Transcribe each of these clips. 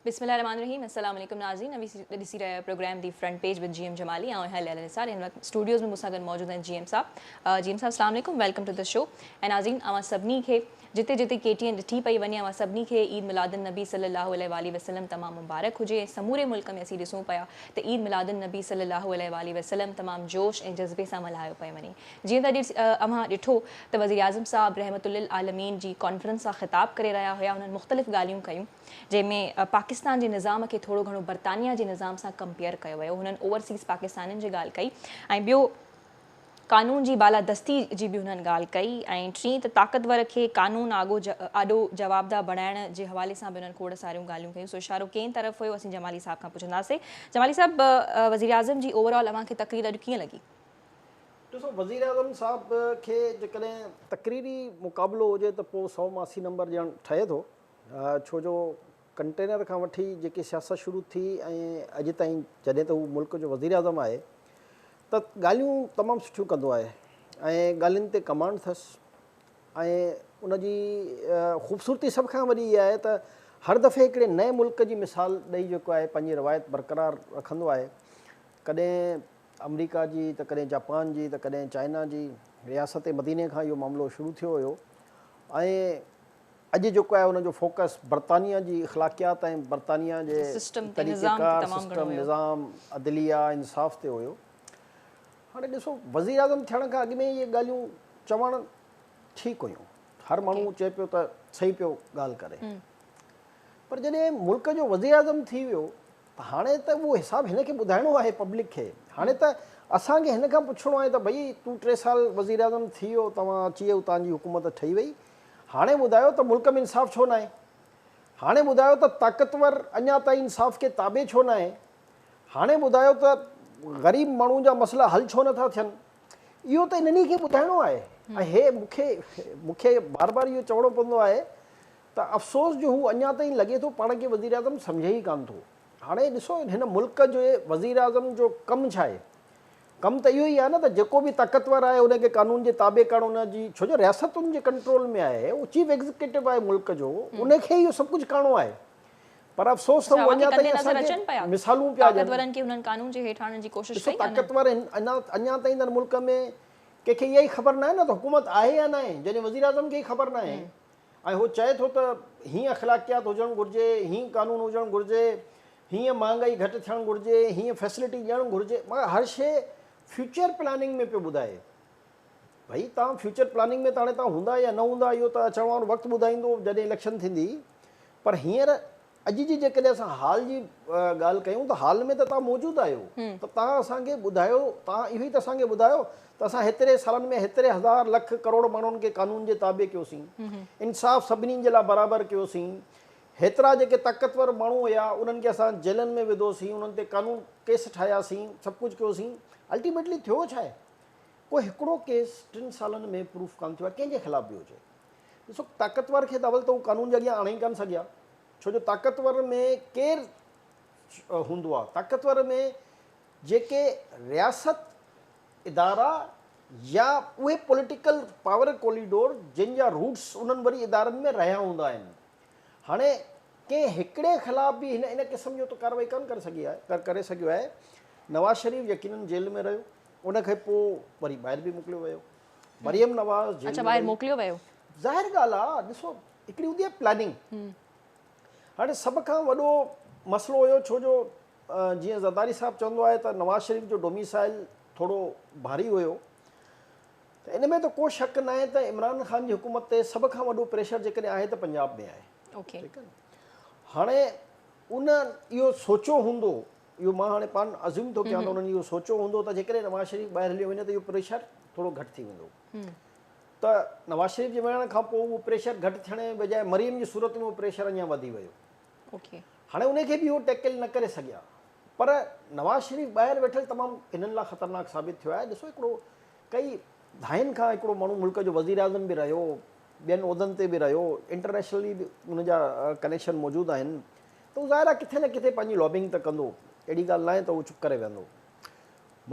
بسم الله الرحمٰن الرحيم السلام عليڪم ناظرين اوهين ڏسي رهيا آهيو programme the front page with G M Jamali آئون آهيان ليلي نثار هن وقت اسٽوڊيوز ۾ مون سان گڏ موجود آهن جي ايم صاحب جي ايم صاحب السلام عليڪم ويلڪم ٽو دي شو ۽ ناظرين اوهان سڀني کي جتي جتي ڪي ٽي اين ڏٺي پئي وڃي اوهان سڀني کي عيد ميلاد النبي صلي الله عليه واٰله وسلم تمام مبارڪ هجي ۽ سموري ملڪ ۾ اسين ڏسون پيا ته عيد ميلاد النبي صلي الله عليه واٰله وسلم تمام جوش ۽ جذبي سان ملهايو پئي وڃي جيئن ته اڄ اوهان ڏٺو ته وزيراعظم صاحب رحمت للعالمين جي ڪانفرنس سان خطاب ڪري رهيا هيا انهن مختلف ڳالهيون ڪيون جنهن ۾ پاڪستان جي نظام کي ٿورو گهڻو برطانيا جي نظام سان ڪمپيئر ڪيو ويو هنن اوورسيز پاڪستانين جي ڳالهه ڪئي ۽ ٻيو قانون جي بالادستي جي به هنن ڳالهه ڪئي ۽ ٽين ته طاقتور کي قانون آڳو آڏو جوابده بڻائڻ جي حوالي سان به هنن کوڙ ساريون ڳالهيون ڪيون سو اشارو ڪئين طرف هيو اسين جمالي صاحب کان پڇنداسين جمالي صاحب وزيراعظم جي اوورآل اوهان کي تقرير اڄ ڪيئن لڳي ڏسو وزيراعظم صاحب کي جيڪڏهن تقريري مقابلو هجي ته پوء سؤ مان اسي نمبر ڏيڻ ٺهي ٿو ڇو جو ڪنٽينر کان وٺي جيڪي سياست شروع ٿي ۽ اڄ تائين جڏهن ته هو ملڪ جو وزيراعظم آهي ته ڳالهيون تمام سٺيون ڪندو آهي ۽ ڳالهين تي ڪمانڊ ٿس ۽ ان جي خوبصورتي سڀ کان وڏي اها آهي ته هر دفعي هڪڙي نئين ملڪ جي مثال ڏئي جيڪو آهي پنهنجي روايت برقرار رکندو آهي ڪڏهن آمريڪا جي ته ڪڏهن جاپان جي ته ڪڏهن چائنا جي رياست مديني کان اهو معاملو شروع ٿيو هيو ۽ اڄ جيڪو آهي ان جو فوڪس برطانيا جي اخلاقيات ۽ برطانيا جي طريقه ڪار سسٽم نظام عدليه انصاف تي هيو هاڻي ڏسو وزير اعظم ٿيڻ کان اڳ ۾ اهي ڳالهيون چوڻ ٺيڪ هيون هر ماڻهو چئي پيو ته صحيح پيو ڳالهه ڪري پر جڏهن ملڪ جو وزير اعظم ٿي ويو هاڻي ته اهو حساب هن کي ٻڌائڻو آهي پبلڪ کي هاڻي ته اسان کي هن کان پڇڻو آهي ته ڀئي تون ٽي سال وزيراعظم ٿي ويو توهان اچي ويو توهان جي حڪومت ٺهي وئي هاڻي ٻڌايو ته ملڪ ۾ انصاف ڇو ناهي هاڻي ٻڌايو ته طاقتور اڃا تائين انصاف کي تابع ڇو ناهي هاڻي ٻڌايو ته غريب ماڻهو جا مسئلا حل ڇو نٿا ٿين اهو ته انهن ئي کي ٻڌائڻو آهي ۽ هي مون کي مون کي بار بار اهو چوڻو پوندو آهي ته افسوس جو هو اڃا تائين لڳي ٿو پاڻ کي وزيراعظم سمجهي ئي ڪانه ٿو. هاڻي ڏسو هن ملڪ جي وزيراعظم جو ڪم ڇا آهي؟ ڪم ته اهو ئي آهي نه ته جيڪو به طاقتور آهي ان کي قانون جي تابع ڪرڻ ان جي ڇو جو رياست ان جي ڪنٽرول ۾ آهي هو چيف ايگزيڪيٽو آهي ملڪ جو ان کي اهو سڀ ڪجهه ڪرڻو آهي پر افسوس ته هو اڃا تائين اسان کي مثالون پيا ڏين. طاقتورن کي هنن قانون جي هيٺ آڻڻ جي ڪوشش ڪئي ڪانه. ڏسو طاقتور اڃا تائين ته ملڪ ۾ ڪنهن کي اها ئي خبر ناهي نه ته حڪومت آهي يا ناهي جڏهن وزيراعظم کي ئي خبر ناهي. ۽ هو چئي ٿو ته هيئن اخلاقيات هجڻ گهرجي، هيئن قانون هجڻ گهرجي، هيئن مهانگائي گهٽ ٿيڻ گهرجي، هيئن فيسلٽي ڏيڻ گهرجي مگر هر شيء فيوچر پلاننگ ۾ پيو ٻڌائي. ڀئي تان فيوچر پلاننگ ۾ ته هاڻي تان هوندا يا نه هوندا اهو ته اچڻ وارو وقت ٻڌائيندو جڏهن اليڪشن ٿيندي پر هينئر اڄ جي جيڪڏهن اسان حال جي ڳالهه ڪيون ته حال ۾ ته توهان موجود آهيو ته توهان اسان کي ٻڌايو توهان اهو ئي ته اسان کي ٻڌايو ته اسان هيتري سالن ۾ هيتري هزار لک ڪروڙ ماڻهن کي قانون جي تابع ڪيوسين انصاف سڀني جي لاء برابر ڪيوسين هيترا جيڪي طاقتور ماڻهو هيا انهن کي اسان جيلن ۾ وڌوسين انهن تي قانون ڪيس ٺاهياسين سڀ ڪجهه ڪيوسين الٽيميٽلي ٿيو ڇا آهي ڪو هڪڙو ڪيس ٽن سالن ۾ پروف ڪانه ٿيو آهي ڪنهن جي خلاف به هجي ڏسو طاقتور کي ته اول ته هو قانون جي اڳيان آڻي ئي ڪانه سگهيا ڇو جو طاقتور ۾ ڪير هوندو آهي طاقتور ۾ جيڪي رياست ادارا يا اهي پوليٽيڪل پاور ڪوليڊور جن جا روٽس انهن وري ادارن ۾ رهيا هوندا آهن هاڻي ڪنهن هڪڙي خلاف به هن ان قسم جو ته ڪارروائي ڪانه ڪري سگهي آهي ڪري سگهيو آهي نواز شريف يقينن جيل ۾ رهيو ان کان پوء وري ٻاهر به موڪليو ويو مريم نواز جيل اچا ٻاهر موڪليو ويو ظاهر ڳالهه آ ڏسو هڪڙي هوندي آ پلاننگ هاڻي سڀ کان وڏو مسئلو هيو ڇو جو جيئن زرداري صاحب چوندو آهي ته نواز شريف جو ڊوميسائل ٿورو ڀاري هيو ته ان ۾ ته ڪو شڪ ناهي ته عمران خان جي حڪومت تي سڀ کان وڏو پريشر جيڪڏهن آهي ته پنجاب ۾ آهي ٺيڪ آهي هاڻي ان اهو سوچيو هوندو اهو مان هاڻي پان ازيوم ٿو ڪيان ته انهن اهو سوچيو هوندو ته جيڪڏهن نواز شريف ٻاهر هليو وڃي ته اهو پريشر ٿورو گهٽ ٿي ويندو ته نواز شريف جي وڃڻ کان پوء اهو پريشر گهٽ ٿيڻ جي بجاء مريم جي صورت ۾ اهو پريشر اڃا وڌي ويو هاڻي ان کي به اهو ٽيڪل نه ڪري سگهيا پر نواز شريف ٻاهر ويٺل تمام هنن لاء خطرناڪ ثابت ٿيو آهي ڏسو هڪڙو ڪئي دهائين کان هڪڙو ماڻهو ملڪ جو وزير اعظم به رهيو ٻين عهدن تي به رهيو انٽرنيشنلي به ان جا ڪنيڪشن موجود آهن ته هو ظاهر آهي ڪٿي نه ڪٿي پنهنجي لابينگ ته ڪندو، اهڙي ڳالهه ناهي ته هو چپ ڪري ويهندو.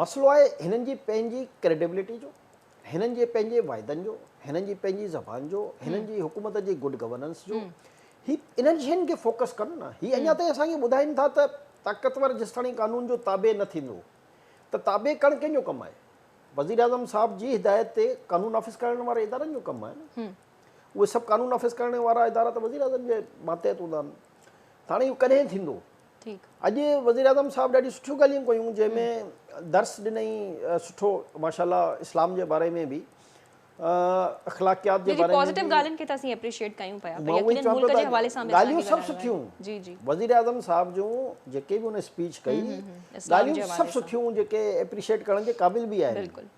مسئلو آهي هنن جي پنهنجي ڪريڊبلٽي جو، هنن جي پنهنجي وعدن جو، هنن جي پنهنجي زبان جو، هنن جي حڪومت جي گڊ گورننس جو. هي انهن شين کي فوڪس ڪن نه. هي اڃا تائين اسان کي ٻڌائين ٿا ته طاقتور جيستاڻي قانون جو تابع نه ٿيندو ته تابع ڪرڻ ڪنهن جو ڪم آهي؟ وزيراعظم صاحب جي هدايت تي قانون نافذ ڪرائڻ واري ادارن جو ڪم آهي نه. اهي سڀ قانون نافذ ڪرڻ وارا ادارا ته وزيراعظم جي ماتحت هوندا آهن ته هاڻي اهو ڪڏهن ٿيندو اڄ وزيراعظم صاحب ڏاڍيون سٺيون ڳالهيون ڪيون جنهن ۾ درس ڏنائين سٺو ماشاء الله اسلام جي باري ۾ به اخلاقيات جي باري ۾ به ڳالهيون کي ته اسين اپريشيئيٽ ڪيون پيا پر يقينن ملڪ جي حوالي سان به ڳالهيون سڀ سٺيون وزيراعظم صاحب جون جيڪي به هن اسپيچ ڪئي ڳالهيون سڀ سٺيون جيڪي اپريشيئيٽ ڪرڻ جي قابل به آهن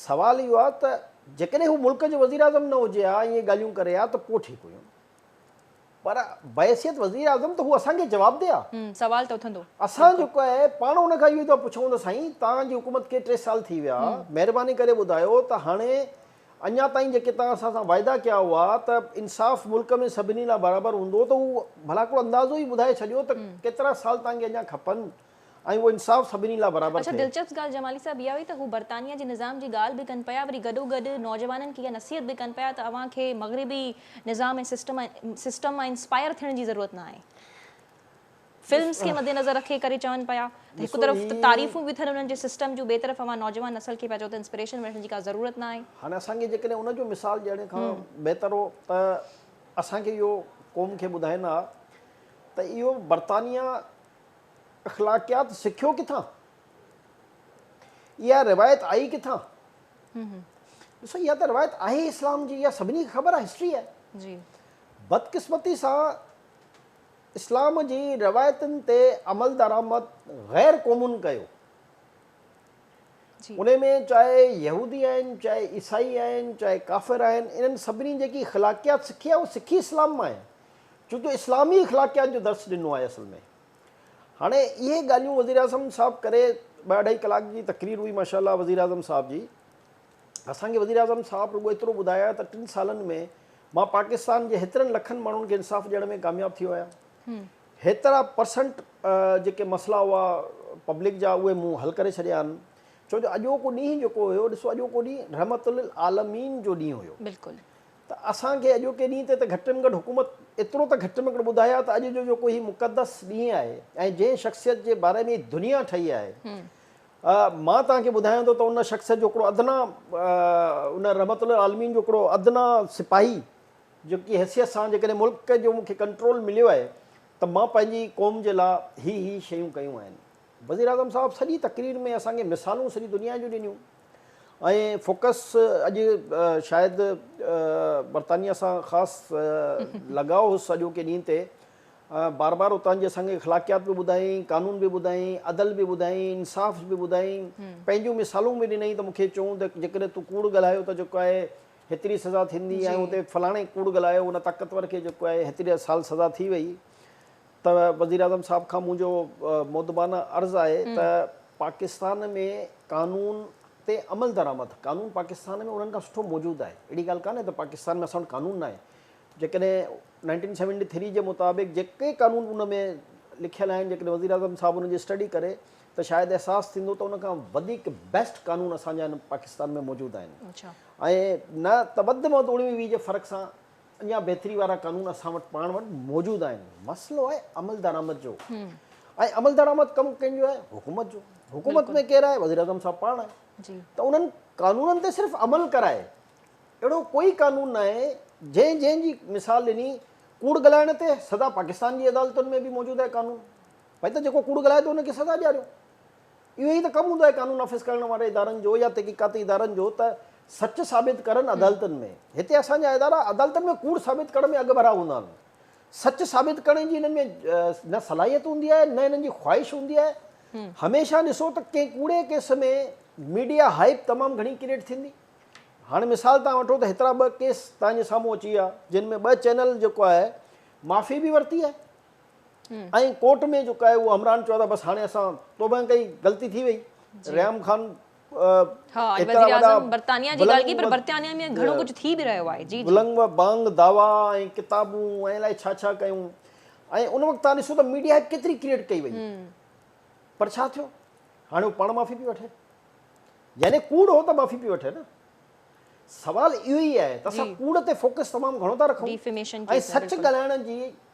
سوال اهو آهي ته جيڪڏهن هو ملڪ جو وزيراعظم نه هجي ها ۽ اهي ڳالهيون ڪري ها ته پوء ٺيڪ هيون پر بحيثيت وزيراعظم ته هو اسان کي جوابده آهي. سوال ته اٿندو. اسان جيڪو آهي پاڻ ان کان اهو ئي ٿا پڇون ته سائين توهان جي حڪومت کي ٽي سال ٿي ويا مهرباني ڪري ٻڌايو ته هاڻي اڃا تائين جيڪي توهان اسان سان واعدا ڪيا هئا ته انصاف ملڪ ۾ سڀني لاء برابر هوندو ته هو ڀلا هڪڙو اندازو ئي ٻڌائي ڇڏيو ته ڪيترا سال توهان کي اڃا کپن ۽ اهو انصاف سڀني لاء برابر اڇا ٿئي. دلچسپ ڳالهه جمالي صاحب اها هئي ته هو برطانيا جي نظام جي ڳالهه به ڪن پيا وري گڏو گڏ نوجوانن کي اها نصيحت به ڪن پيا ته اوهان کي مغربي نظام ۽ سسٽم سسٽم مان انسپائر ٿيڻ جي ضرورت نه آهي فلمس کي مد نظر رکي ڪري چون پيا ته هڪ طرف ته تعريفون به ٿين انهن جي سسٽم جون ٻئي طرف اوهان نوجوان نسل کي پيا چئو ته انسپريشن وٺڻ جي ڪا ضرورت نه آهي. هاڻي اسان کي جيڪڏهن ان جو مثال ڏيڻ کان بهتر هو ته اسان کي اهو قوم کي ٻڌائيندا ها ته اهو برطانيا اخلاقيات سکيو ڪٿان؟ اها روايت آئي ڪٿان؟ ڏسو اها ته روايت آهي اسلام جي اها سڀني کي خبر آهي هسٽري آهي بدقسمتي سان اسلام جي روايتن تي عمل درآمد غير قومن ڪيو ان ۾ چاهي يهودي آهن چاهي عيسائي آهن چاهي ڪافر آهن انهن سڀني جيڪي اخلاقيات سکي آهي اهو سکي اسلام مان آهي چون جو اسلامي اخلاقيات جو درس ڏنو آهي اصل ۾ هاڻي اهي ڳالهيون وزيراعظم صاحب ڪري ٻه اڍائي ڪلاڪ جي تقرير هئي ماشاء الله وزيراعظم صاحب جي اسان کي وزيراعظم صاحب رڳو ايترو ٻڌايا ته ٽن سالن ۾ مان پاڪستان جي هيترن لکن ماڻهن کي انصاف ڏيڻ ۾ ڪامياب ٿيو آهيان هيترا پرسنٽ جيڪي مسئلا هئا پبلڪ جا اهي مون حل ڪري ڇڏيا آهن ڇو جو اڄوڪو ڏينهن جيڪو هيو ڏسو اڄوڪو ڏينهن رحمت للعالمين جو ڏينهن هيو بلڪل ته اسان کي اڄوڪي ڏينهن تي ته گهٽ م گهٽ حڪومت ايترو ته گهٽ م گهٽ ٻڌايا ته اڄ جو جيڪو هي مقدس ڏينهن آهي ۽ جنهن شخصيت جي باري ۾ هي دنيا ٺهي آهي مان توهان کي ٻڌايان ٿو ته ان شخصيت جو هڪڙو ادنيٰ ان رحمت العالمين جو هڪڙو ادنيٰ سپاهي جيڪي حيثيت سان جيڪڏهن ملڪ جو مون کي ڪنٽرول مليو آهي ته مان پنهنجي قوم جي لا هي هي شيون ڪيون آهن وزيراعظم صاحب سڄي تقرير ۾ اسان کي مثالون سڄي دنيا جون ڏنيون ائين فوڪس اڄ شايد برطانيا سان خاص لڳاء هوس اڄو ڪي ڏينهن تي بار بار اتان جي اسان کي اخلاقيات به ٻڌائين قانون به ٻڌائين عدل به ٻڌائين انصاف به ٻڌائين پنهنجون مثالون به ڏنائين ته مونکي چون ته جيڪڏهن تون ڪوڙ ڳالهايو ته جيڪو آهي هيتري سزا ٿيندي ۽ اتي فلاڻي ڪوڙ ڳالهايو ان طاقتور کي جيڪو آهي هيتري سال سزا ٿي وئي ته وزيراعظم صاحب کان منهنجو مؤدبانه عرض آهي ته پاڪستان ۾ قانون تي عملدرآمد، قانون پاڪستان ۾ انهن کان سٺو موجود آهي، اهڙي ڳالهه ڪانهي ته پاڪستان ۾ اسان وٽ قانون ناهي، جيڪڏهن نائنٽين سيونٽي ٿري جي مطابق جيڪي قانون ان ۾ لکيل آهن جيڪڏهن وزيراعظم صاحب ان جي اسٽڊي ڪري ته شايد احساس ٿيندو ته ان کان وڌيڪ بيسٽ قانون اسان جا هن پاڪستان ۾ موجود آهن ۽ نه ته وڌ ۾ وڌ اوڻويهه ويهه جي فرق سان اڃا بهتري وارا قانون اسان وٽ پاڻ وٽ موجود آهن مسئلو آهي عملدرآمد جو ۽ عملدرآمد ڪم ڪنهن جو آهي حڪومت جو حڪومت ۾ ڪير آهي وزيراعظم صاحب پاڻ آهي ته انهن قانونن تي صرف عمل ڪرائي اهڙو ڪوئي قانون نه آهي جنهن جنهن جي مثال ڏني ڪوڙ ڳالهائڻ تي سزا پاڪستان جي عدالتن ۾ به موجود آهي قانون ڀاء ته جيڪو ڪوڙ ڳالهائي ٿو ان کي سزا ڏياريو اهو ئي ته ڪم هوندو آهي قانون نافذ ڪرڻ واري ادارن جو يا تحقيقاتي ادارن جو ته سچ ثابت ڪرن عدالتن ۾. هتي اسان جا ادارا عدالتن ۾ ڪوڙ ثابت ڪرڻ ۾ اڳڀرا هوندا آهن. سچ ثابت ڪرڻ جي هنن ۾ نه صلاحيت هوندي آهي نه هنن جي خواهش هوندي آهي. هميشه ڏسو ته ڪنهن ڪوڙي ڪيس ۾ ميڊيا هائپ تمام گهڻي ڪريٽ ٿيندي. هاڻي مثال تان وٺو ته هيترا ٻه ڪيس تان جي سامهون اچي ويا جن ۾ ٻه چينل جيڪو آهي معافي به ورتي آهي. ۽ ڪورٽ ۾ جيڪو آهي اهو همراهن چيو ته بس هاڻي اسان توبه ڪئي غلطي ٿي وئي ريام خان ايترا وڏا بلنگ و بانگ دعوا ۽ ڪتابون ۽ الائي ڇا ڇا ڪيون ۽ ان وقت تان ڏسو ته ميڊيا ڪيتري ڪريٽ ڪئي وئي پر ڇا ٿيو هاڻي هو پاڻ معافي پي وٺي يعني ڪوڙ هو ته معافي پي وٺي نه سوال اهو ئي آهي ته اسان ڪوڙ تي فوڪس تمام گهڻو ٿا رکون ۽ سچ ڳالهائڻ جي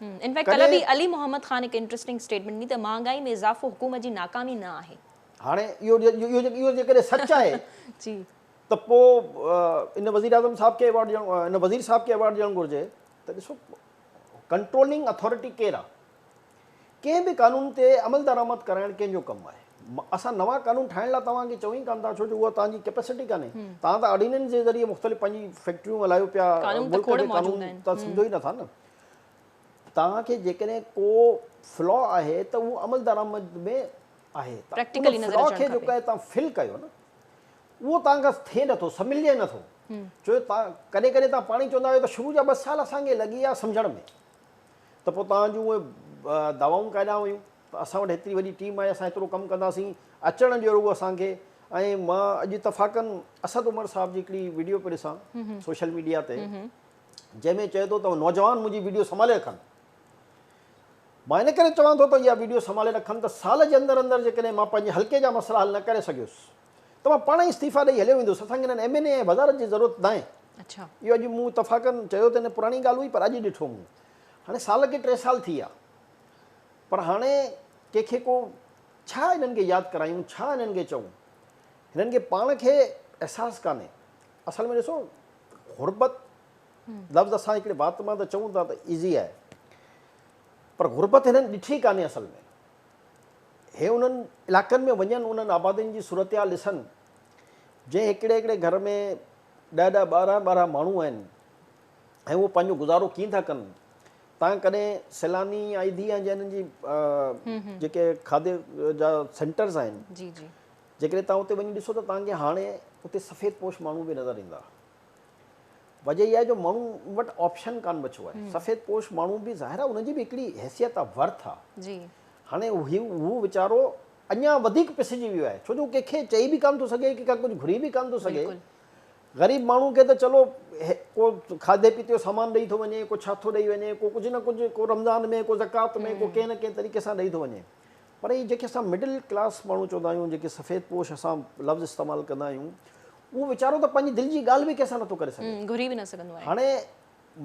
ان فيڪٽ ڪلهه به علي محمد خان هڪ انٽرسٽنگ اسٽيٽمينٽ ڏني ته مهانگائي ۾ اضافو حڪومت جي ناڪامي نه آهي. هاڻي اهو جيڪڏهن سچ آهي ته پوء ان وزير اعظم صاحب کي ايوارڊ ڏيڻو ان وزير صاحب کي ايوارڊ ڏيڻ گهرجي ته ڏسو ڪنٽرولنگ اٿارٽي ڪير آهي؟ ڪنهن به قانون تي عملدرآمد ڪرائڻ ڪنهن جو ڪم آهي؟ اسان نوان قانون ٺاهڻ لاء توهان کي چئون ئي ڪانه ٿا ڇو جو اها توهان جي ڪيپيسٽي ڪانهي. توهان ته آرڊيننس جي ذريعي مختلف پنهنجي فيڪٽريون هلايو پيا ملڪ کي قانون ته سمجهو ئي نٿا نه. توهان کي جيڪڏهن ڪو فلا آهي ته اهو عملدرآمد ۾ آهي توهان ان فلا کي جيڪو آهي توهان فل ڪيو نه اهو توهان کان ٿئي نٿو سملجي نٿو ڇو جو ڪڏهن ڪڏهن توهان پاڻ ئي چوندا آهيو ته شروع جا ٻه سال اسان کي لڳي ويا سمجهڻ ۾. ته پوء توهان جون اهي دوائون ڪاڏانهن ويون؟ ته اسان وٽ هيتري وڏي ٽيم آهي، اسان هيترو ڪم ڪنداسين، اچڻ ڏيو رڳو اسان کي. ۽ مان اڄ اتفاقاً اسد عمر صاحب جي هڪڙي وڊيو پيو ڏسان سوشل ميڊيا تي، جنهن ۾ چئي ٿو ته نوجوان منهنجي وڊيو سنڀالي رکن. مان ان ڪري چوان ٿو ته اها وڊيو سنڀالي رکن ته سال جي اندر اندر جيڪڏهن مان پنهنجي حلقي جا مسئلا حل نه ڪري سگهيس ته مان پاڻ ئي استعيفيٰ ڏئي هليو ويندس، اسان کي هنن ايم اين اي ۽ وزارت جي ضرورت ناهي. اهو اڄ مون اتفاقن چيو ته نه پراڻي ڳالهه هئي پر اڄ ڏٺو مون. هاڻي سال کي ٽي سال ٿي ويا پر هاڻي ڪنهن کي ڪو ڇا هنن کي ياد ڪرايون، ڇا هنن کي چئون؟ هنن کي پاڻ کي احساس ڪانهي. اصل ۾ ڏسو غربت لفظ اسان هڪڙي وات مان ته چئون ٿا ته ايزي آهي پر غربت هنن ڏٺي ڪانهي اصل ۾. هي انهن علائقن ۾ وڃن انهن آبادين جي صورتحال ڏسن جنهن هڪڙي هڪڙي گهر ۾ ڏهه ڏهه ٻارهن ٻارهن ماڻهو آهن ۽ اهو پنهنجو گذارو ڪيئن ٿا ڪن تان ڪڏهن سيلاني آئي ڌي آهن جنهن جي جيڪي کاڌي جا سينٽرز آهن جيڪڏهن تان اتي وڃي ڏسو ته تان کي هاڻي اتي سفيد پوش ماڻهو به نظر ايندا وجه اها آهي جو ماڻهن وٽ آپشن ڪانه بچو آهي سفيد پوش ماڻهو به ظاهر آهي ان جي به هڪڙي حيثيت آهي ورٿ آهي جي هاڻي هو ويچارو اڃان وڌيڪ پسجي ويو آهي ڇو جو ڪنهن کي چئي به ڪانه ٿو سگهي ڪنهن کان ڪجهه گهري به ڪانه ٿو سگهي غريب ماڻهو کي ته چلو ڪو کاڌي پيتي جو سامان ڏئي ٿو وڃي ڪو ڇا ٿو ڏئي وڃي ڪو ڪجهه نه ڪجهه ڪو رمضان ۾ ڪو زڪات ۾ ڪو ڪنهن نه ڪنهن طريقي سان ڏئي ٿو وڃي پر هي جيڪي اسان مڊل ڪلاس ماڻهو چوندا آهيون جيڪي سفيد پوش اسان لفظ استعمال ڪندا آهيون اهو ويچارو ته پنهنجي دل جي ڳالهه به ڪنهن سان نٿو ڪري سگهي. گهري به نه سگهندو آهي. هاڻي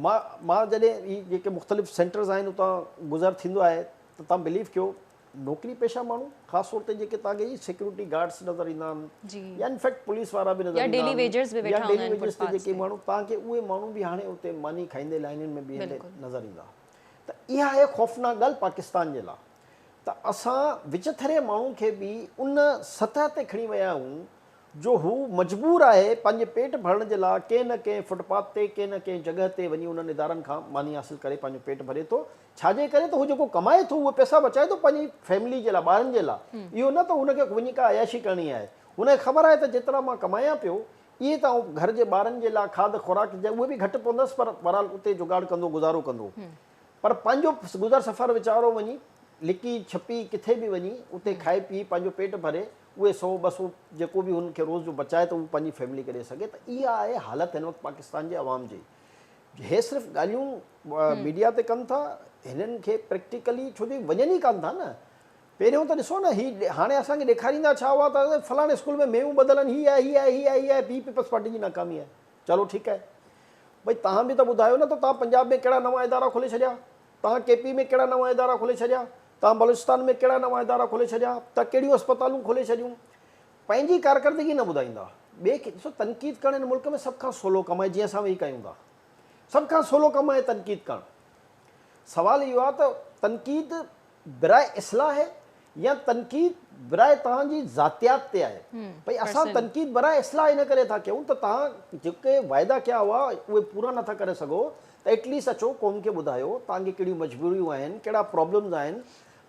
مان مان جڏهن هي جيڪي مختلف سينٽرز آهن اتان گذر ٿيندو آهي ته تان بليف ڪيو نوڪري پيشه ماڻهو خاص طور تي جيڪي تان کي هي سيڪيورٽي گارڊس نظر ايندا آهن يا ان فيڪٽ پوليس وارا به نظر ايندا آهن يا ڊيلي ويجز تي جيڪي ماڻهو تان کي اهي ماڻهو به هاڻي اتي ماني کائيندي لائنين ۾ بيهندي نظر ايندا ته اها آهي خوفناڪ ڳالهه پاڪستان جي لا ته اسان وچٿري ماڻهو کي به ان سطح تي کڻي ويا آهيون جو هو مجبور آهي پنهنجي پيٽ ڀرڻ جي لاء ڪنهن نه ڪنهن فٽ پاٿ تي، ڪنهن نه ڪنهن جڳهه تي وڃي انهن ادارن کان ماني حاصل ڪري پنهنجو پيٽ ڀري ٿو. ڇا جي ڪري ته هو جيڪو ڪمائي ٿو اهي پئسا بچائي ٿو پنهنجي فيملي جي لاء، ٻارن جي لاء. اهو نه ته هن کي وڃي ڪا عياشي ڪرڻي آهي. هن کي خبر آهي ته جيترا مان ڪمايان پيو اهي ته آئون گهر جي ٻارن جي لاء کاڌ خوراڪ جي اهي به گهٽ پوندس پر بهرحال اتي جگاڙ ڪندو گذارو ڪندو. پر پنهنجو گذر سفر ويچارو وڃي لڪي ڇپي ڪٿي به وڃي اتي کائي پيئي پنهنجو پيٽ ڀري اهي سو ٻه سو جيڪو به هن کي روز جو بچائي ته هو پنهنجي فيملي کي ڏئي سگهي ته اها آهي حالت هن وقت پاڪستان جي عوام جي هي صرف ڳالهيون ميڊيا تي ڪن ٿا هنن کي پريڪٽيڪلي ڇو جو وڃن ئي ڪانه ٿا نه پهريون ته ڏسو نه هي هاڻي اسان کي ڏيکاريندا ڇا هئا ته فلاڻي اسڪول ۾ ميون ٻڌل آهن هي آهي هي آهي هي آهي هي آهي پي پيپلز پارٽي جي ناڪامي آهي چلو ٺيڪ آهي. ڀئي توهان به ته ٻڌايو نه ته توهان پنجاب ۾ ڪهڙا نوان ادارا کولي ڇڏيا؟ توهان ڪي پي ۾ ڪهڙا نوان ادارا کولي ڇڏيا؟ توهان بلوچستان ۾ ڪهڙا نوان ادارا کولي ڇڏيا؟ توهان ڪهڙيون اسپتالون کولي ڇڏيون؟ پنهنجي ڪارڪردگي نه ٻڌائيندا. ٻئي کي ڏسو تنقيد ڪرڻ هن ملڪ ۾ سڀ کان سولو ڪم آهي جيئن اسان ويهي ڪيون ٿا. سڀ کان سولو ڪم آهي تنقيد ڪرڻ. سوال اهو آهي ته تنقيد براء اصلاح يا تنقيد براء توهان جي ذاتيات تي آهي ڀئي اسان تنقيد براء اصلاح ان ڪري ٿا ڪيون ته توهان جيڪي وعدا ڪيا هئا اهي پورا نٿا ڪري سگهو ته ايٽ ليسٽ اچو قوم کي ٻڌايو توهان کي ڪهڙيون مجبوريون آهن ڪهڙا پرابلمز آهن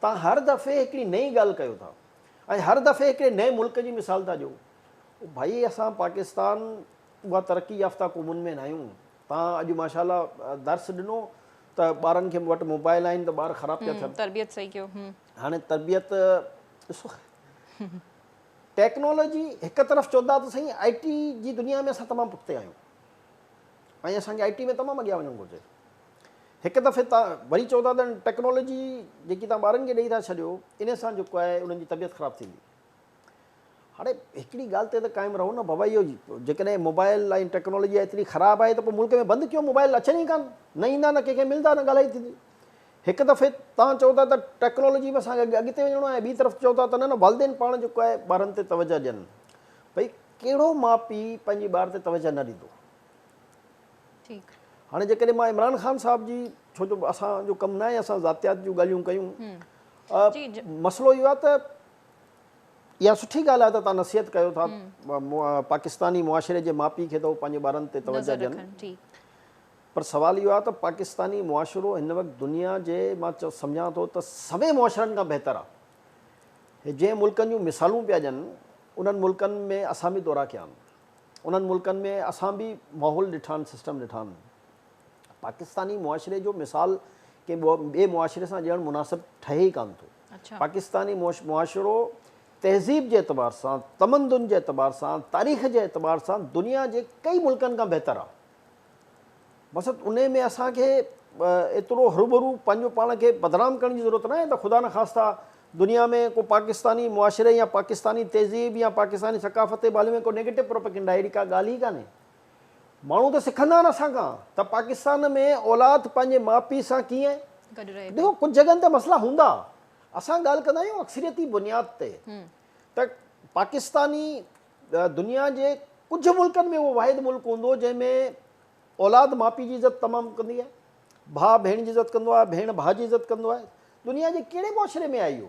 توهان هر دفعي هڪڙي نئين ڳالهه ڪيو ٿا ۽ هر دفعي هڪڙي نئين ملڪ جي مثال ٿا ڏيو ڀئي اسان پاڪستان اها ترقي يافته قومن ۾ ناهيون توهان اڄ ماشاء الله درس ڏنو ته ٻارن کي وٽ موبائل آهن ته ٻار خراب پيا ٿين تربيت صحيح ڪيو هاڻي تربيت ڏسو ٽيڪنالاجي هڪ طرف چوندا ته سائين آئي ٽي جي دنيا ۾ اسان تمام پٺتي آهيون ۽ اسان کي آئي ٽي ۾ تمام اڳيان وڃڻ گهرجي هڪ دفعي تان وري چوندا ته ٽيڪنالاجي جيڪي تان ٻارن کي ڏئي ٿا ڇڏيو ان سان جيڪو آهي انهن جي طبيعت خراب ٿيندي هاڻي هڪڙي ڳالهه تي ته قائم رهو نه بابا اهو جيڪڏهن موبائل ۽ ٽيڪنالاجي ايتري خراب آهي ته پوء ملڪ ۾ بند ڪيو موبائل اچن ئي ڪان نه ايندا نه ڪنهن کي ملدا نه ڳالهائي ٿيندي هڪ دفعي تان چئو ٿا ته ٽيڪنالاجي ۾ اسان کي اڳتي وڃڻو آهي ٻي طرف چئو ٿا ته نه نه والدين پاڻ جيڪو آهي ٻارن تي توجه ڏين ڀئي ڪهڙو ماء پي پنهنجي ٻار تي توجه نه ڏيندو ٺيڪ هاڻي جيڪڏهن مان عمران خان صاحب جي ڇو جو اسان جو ڪم نه آهي اسان ذاتيات جون ڳالهيون ڪيون جي جي مسئلو اهو آهي ته اها سٺي ڳالهه آهي ته توهان نصيحت ڪيو ٿا پاڪستاني معاشري جي ماپي کي ته هو پنهنجي ٻارن تي توجه ڏين پر سوال اهو آهي ته پاڪستاني معاشرو هن وقت دنيا جي مان سمجهان ٿو ته سوين معاشرن کان بهتر آهي هي جنهن ملڪن جون مثالون پيا ڏين انهن ملڪن ۾ اسان به دورا ڪيا آهن انهن ملڪن ۾ اسان به ماحول ڏٺا آهن سسٽم ڏٺا آهن پاڪستاني معاشري جو مثال ڪنهن ٻئي معاشري سان ڏيڻ مناسب ٺهي ئي ڪانه ٿو پاڪستاني معاشرو تهذيب جي اعتبار سان، تمدن جي اعتبار سان، تاريخ جي اعتبار سان دنيا جي ڪئي ملڪن کان بهتر آهي. بس انهي ۾ اسان کي ايترو هروڀرو پنهنجو پاڻ کي بدنام ڪرڻ جي ضرورت ناهي ته خدا نخواسته دنيا ۾ ڪو پاڪستاني معاشري يا پاڪستاني تهذيب يا پاڪستاني ثقافت تي به هلي وڃي ڪو نيگيٽو پروپيگنڊا اهڙي ڪا ڳالهه ئي ڪانهي. ماڻهو ته سکندا نه اسان کان ته پاڪستان ۾ اولاد پنهنجي ماء پيء سان ڪيئن گڏ رهي ٿي. ڏسو ڪجهه جڳهن تي مسئلا هوندا اسان ڳالهه ڪندا آهيون اڪثريتي بنياد تي ته پاڪستاني دنيا جي ڪجهه ملڪن ۾ اهو واحد ملڪ هوندو جنهن ۾ اولاد ماء پيء جي عزت تمام ڪندي آهي ڀاء ڀيڻ جي عزت ڪندو آهي ڀيڻ ڀاء جي عزت ڪندو آهي دنيا جي ڪهڙي معاشري ۾ آهي اهو.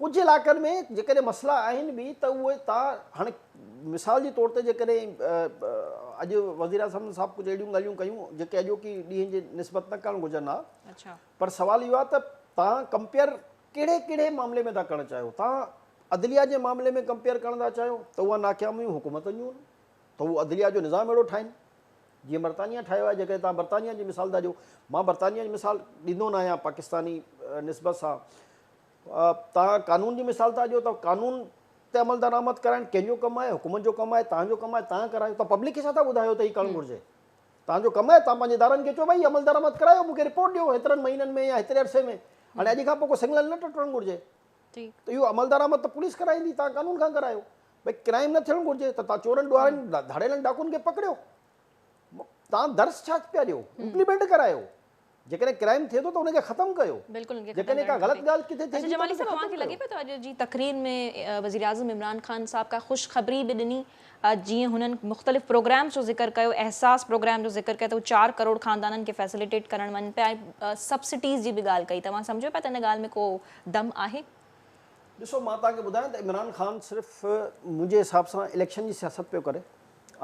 ڪجهه علائقن ۾ جيڪڏهن مسئلا آهن به ته اهي تا هاڻي مثال جي طور تي جيڪڏهن اڄ وزيراعظم صاحب ڪجهه اهڙيون ڳالهيون ڪيون جيڪي اڄوڪي ڏينهن جي نسبت نه ڪرڻ گهرجن ها اچھا پر سوال اهو آهي ته تان ڪمپيئر ڪهڙي ڪهڙي معاملي ۾ ٿا ڪرڻ چاهيو تان عدليه جي معاملي ۾ ڪمپيئر ڪرڻ ٿا چاهيو ته اها ناڪاميون حڪومتن جون ته هو عدليه جو نظام اهڙو ٺاهين جيئن برطانيا ٺاهيو آهي جيڪڏهن توهان برطانيا جي مثال ٿا ڏيو مان برطانيا جي مثال ڏيندو نه آهيان پاڪستاني نسبت سان توهان قانون جي مثال ٿا ڏيو ته قانون تي عمل درآمد ڪرائڻ ڪنهن جو ڪم آهي حڪومت جو ڪم آهي تان جو ڪم آهي تان ڪرايو ته پبلڪ کي ڇا ٿا ٻڌايو ته هي ڪرڻ گهرجي تان جو ڪم آهي تان پنهنجي ادارن کي چو بھي عمل درآمد ڪرايو مونکي رپورٽ ڏيو هيترن مهينن ۾ يا هيتري عرصي ۾ هاڻي اڄ کان پوء ڪو سنگنل نه ٽٽڻ گهرجي ته اهو عمل درآمد ته پوليس ڪرائيندي تان قانون کان ڪرايو ڀئي ڪرائيم نه ٿيڻ گهرجي ته تان چورن ڏوهارين ڌاڙيلن ڊاڪون کي پڪڙيو تان درس ڇا پيا ڏيو امپليمنٽ ڪرايو جيڪڏهن ڪرائيم ٿئي ٿو ته ان کي ختم ڪيو جيڪڏهن ڪا غلط ڳالهه ڪٿي ٿئي ٿي ته اوهان کي لڳي پيو ته اڄ جي تقرير ۾ وزيراعظم عمران خان صاحب ڪا خوشخبري به ڏني جيئن هنن مختلف پروگرامز جو ذڪر ڪيو احساس پروگرام جو ذڪر ڪيو ته هو چار ڪروڙ خاندانن کي فيسليٽيٽ ڪرڻ وڃن پيا ۽ سبسڊيز جي به ڳالهه ڪئي ته اوهان سمجهو پيا ته ان ڳالهه ۾ ڪو دم آهي ڏسو مان توهان کي ٻڌايان ته عمران خان صرف منهنجي حساب سان اليڪشن جي سياست پيو ڪري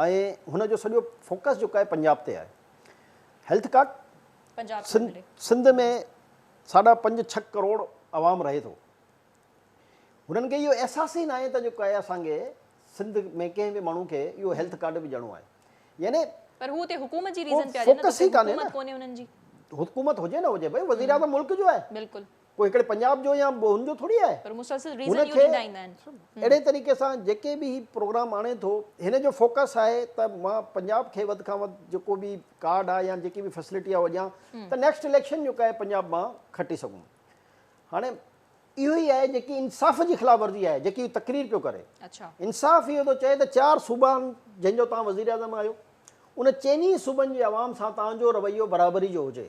۽ هن جو سڄو فوڪس جيڪو آهي پنجاب تي آهي هيلٿ ڪارڊ پنجاب سنڌ سندري سنڌ ۾ ساڍا پنج ڇهه ڪروڙ عوام رهي ٿو هنن کي اهو احساس ئي ناهي ته جيڪو آهي اسان کي سنڌ ۾ ڪنهن به ماڻهو کي اهو هيلٿ ڪارڊ به ڏيڻو آهي يعني پر هو اتي حڪومت جي ڪو ريزن پيا ڏين نه ته فوڪس اتي ئي ڪانهي حڪومت نه ڪونهي هنن جي حڪومت هجي نه هجي ڀئي وزيراعظم ملڪ جو آهي بلڪل پوء هڪڙي پنجاب جو يا هن جو ٿوري آهي. پر مسلسل ريزن اهو ڏيندا ايندا آهن. اهڙي طريقي سان جيڪي به هي پروگرام آڻي ٿو هن جو فوڪس آهي ته مان پنجاب کي وڌ کان وڌ جيڪو به ڪارڊ آهي يا جيڪي به فيسلٽي آهي اهو ڏيان ته نيڪسٽ اليڪشن جيڪو آهي پنجاب مان کٽي سگهون. هاڻي اهو ئي آهي جيڪي انصاف جي خلاف ورزي آهي جيڪي هي تقرير پيو ڪري. انصاف اهو ٿو چئي ته چار صوبان جن جو توهان وزيراعظم آهيو ان چئني صوبن جي عوام سان توهان جو رويو برابري جو هجي.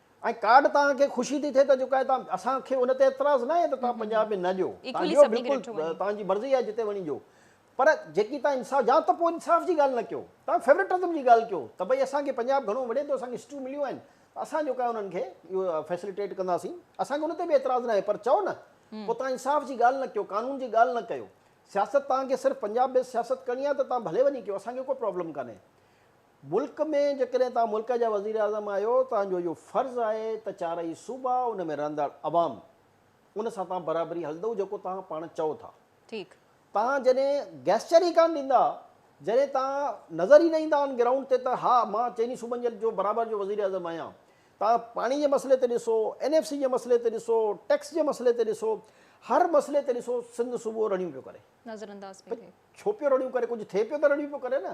۽ ڪارڊ توهان کي خوشي ٿي ٿئي ته جيڪو آهي توهان اسان کي ان تي اعتراض ناهي ته توهان پنجاب ۾ نه ڏيو توهان ڏيو بلڪل توهان جي مرضي آهي جتي وڃي ڏيو پر جيڪي توهان انصاف يا ته پوء انصاف جي ڳالهه نه ڪيو توهان فيورٽزم جي ڳالهه ڪيو ته ڀئي اسان کي پنجاب گهڻو وڙهي ٿو اسان کي سيٽون مليون آهن ته اسان جيڪو آهي انهن کي اهو فيسليٽيٽ ڪنداسين اسان کي ان تي به اعتراض ناهي پر چئو نه پوء توهان انصاف جي ڳالهه نه ڪيو قانون جي ڳالهه نه ڪيو سياست توهان کي صرف پنجاب بيس سياست ڪرڻي آهي ته توهان ڀلي وڃي ڪيو اسان کي ڪو پرابلم ڪانهي ملڪ ۾ جيڪڏهن توهان ملڪ جا وزيراعظم آهيو توهان جو اهو فرض آهي ته چارئي صوبا ان ۾ رهندڙ عوام ان سان توهان برابري هلندو جيڪو توهان پاڻ چئو ٿا ٺيڪ. توهان جڏهن گيسچر ئي ڪانه ڏيندا جڏهن توهان نظر ئي نه ايندا آن گرائونڊ تي ته ها مان چئني صوبن جو برابر جو وزيراعظم آهيان توهان پاڻي جي مسئلي تي ڏسو اين ايف سي جي مسئلي تي ڏسو ٽيڪس جي مسئلي تي ڏسو هر مسئلي تي ڏسو سنڌ صوبو رڙيون پيو ڪري نظرانداز پيو ٿئي. ڇو پيو رڙيون ڪري ڪجهه ٿئي پيو ته رڙيون پيو ڪري نه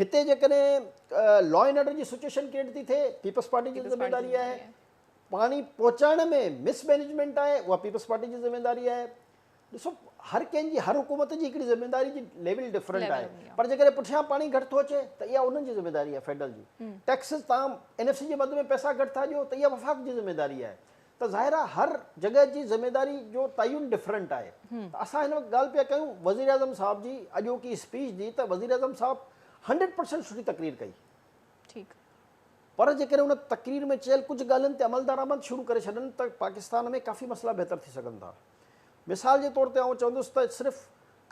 هتي جيڪڏهن لا اينڊ آرڊر جي سچويشن ڪريٽ ٿي ٿئي پيپلز پارٽي جي ذميواري آهي، پاڻي پهچائڻ ۾ مس مئنيجمينٽ آهي اها پيپلز پارٽي جي ذميواري آهي. ڏسو هر ڪنهن جي هر حڪومت جي هڪڙي ذميواري جي ليول ڊفرنٽ آهي پر جيڪڏهن پٺيان پاڻي گهٽ ٿو اچي ته اها انهن جي ذميواري آهي فيڊرل جي ٽيڪسز تان اين ايف سي جي مد ۾ پئسا گهٽ ٿا ڏيو ته اها وفاق جي ذميواري آهي ته ظاهر آهي هر جڳهه جي ذميداري جو تعين ڊفرنٽ آهي ته اسان هن وقت ڳالهه پيا ڪيون وزيراعظم صاحب جي اڄوڪي اسپيچ جي ته وزيراعظم صاحب هنڊريڊ پرسنٽ سٺي تقرير ڪئي ٺيڪ پر جيڪڏهن ان تقرير ۾ چيل ڪجهه ڳالهين تي عملدارآمد شروع ڪري ڇڏن ته پاڪستان ۾ ڪافي مسئلا بهتر ٿي سگهن ٿا مثال جي طور تي آئون چوندس ته صرف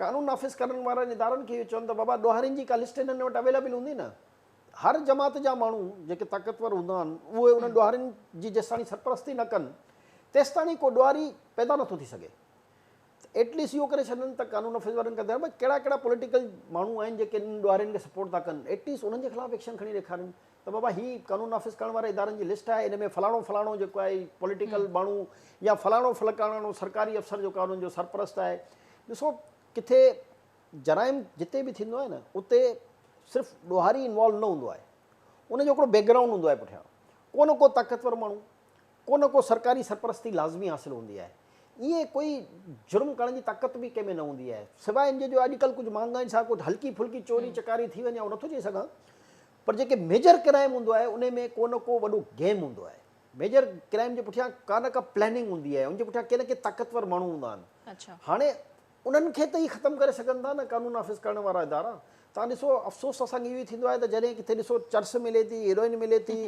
قانون نافذ ڪرڻ وارن ادارن کي اهو چوڻ ته بابا ڏوهارين جي ڪا لسٽ هنن وٽ اويلابل هوندي نه هر جماعت جا ماڻهو جيڪي طاقتور هوندا آهن، اهي انهن ڏوهارين جي جيستاڻي سرپرستي نه ڪن، تيستاڻي ڪو ڏوهاري پيدا نٿو ٿي سگهي. ته ايٽ ليسٽ اهو ڪري ڇڏن ته قانون نافذ وارن کي ٻڌائين ڀاء ڪهڙا ڪهڙا پوليٽيڪل ماڻهو آهن جيڪي انهن ڏوهارين کي سپورٽ ٿا ڪن، ايٽ ليسٽ انهن جي خلاف ايڪشن کڻي ڏيکارين ته بابا هي قانون نافذ ڪرڻ واري ادارن جي لسٽ آهي، ان ۾ فلاڻو فلاڻو جيڪو آهي پوليٽيڪل ماڻهو يا فلاڻو فلڪاڻاڻو سرڪاري افسر جيڪو آهي انهن جو سرپرست آهي. ڏسو ڪٿي جرائم جتي به ٿيندو آهي نه اتي صرف ڏوهاري انوالو نه هوندو آهي ان جو هڪڙو بيڪ گرائونڊ هوندو آهي پٺيان ڪو نه ڪو طاقتور ماڻهو ڪو نه ڪو سرڪاري سرپرستي لازمي حاصل هوندي آهي ائين ڪوئي جرم ڪرڻ جي طاقت به ڪنهن ۾ نه هوندي آهي سواء ان جي جو اڄڪلهه ڪجهه مهانگائين سان ڪجهه هلڪي ڦلڪي چوري چڪاري ٿي وڃي اهو نٿو چئي سگهان پر جيڪي ميجر ڪرائم هوندو آهي ان ۾ ڪو نه ڪو وڏو گيم هوندو آهي ميجر ڪرائم جي پٺيان ڪا نه ڪا پلاننگ هوندي آهي ان جي پٺيان ڪي نه ڪي طاقتور ماڻهو هوندا آهن هاڻي انهن کي ته اهي ختم ڪري سگهن ٿا نه قانون نافذ ڪرڻ وارا ادارا. توهان ڏسو افسوس اسان کي اهو ئي ٿيندو آهي ته جڏهن ڪٿي ڏسو چرس ملي ٿي، هيروئن ملي ٿي،